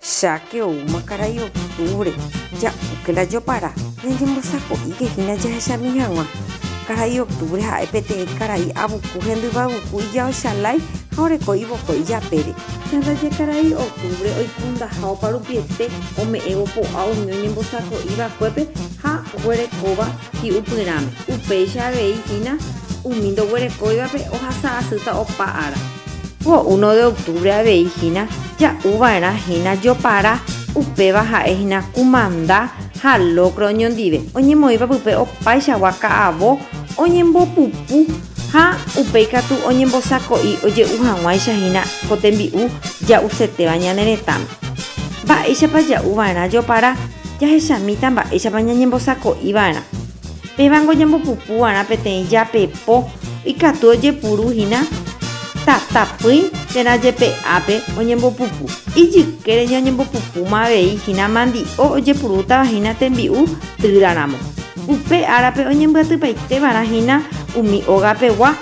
Cháke oúma karai octubre, ja'úke la jopara, ñañembosako'íke hína jahechami hag̃ua. Karai octubre ha'e peteĩ karai avuku hendyvaguku ijaochalái ha oreko ivokói japére. Ha ndaje karai octubre oikundaha oparupiete ome'ẽvo po'a umi oñembosako'i vakuépe ha oguerekóva hi'upyrãme. Upéicha avei hína umi ndoguerekóivape ohasa asýta opa ára. Ko uno de octubre avei hína ja'u va'erã hína Jopara, upéva ha'e hína kumanda ha lókra oñondive, oñemoĩva pype opaichagua ka'avo oñembopupu ha upéi katu oñembosako'i oje'u hag̃uáicha hína ko tembi'u ja'usetéva ñane retãme. Mba'éichapa ja'u va'erã Jopara? Jahechamíta mba'éichapa ñañembosako'i va'erã. Pévango ñambopupu va'erã peteĩ japepo ikatu ojepuru hína tatapỹi térã jepe ápe oñembopupu. Ijykére ñañembopupúma avei hína mandi'o ojepurútava hína tembi'u týra ramo. Upe árape oñembyatypaite va'erã hína umi óga pegua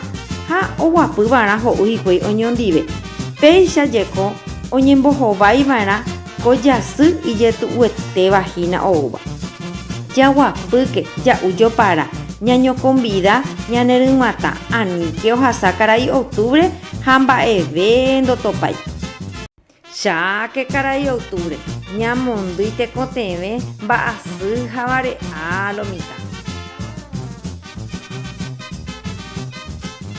ha oguapy va'erã ho'u hikuái oñondive. Péicha jeko oñembohovái va'erã ko jasy ijetu'uetéva hína oúva. Jaguapýke, ja'u jopara, ñañokonvida ñaneryg̃uatã aníke ohasa karai octubre ha mba'eve ndotopái. Cháke karai octubre, ñamondýi tekotevẽ mba'asy ha vare'a lo mitã.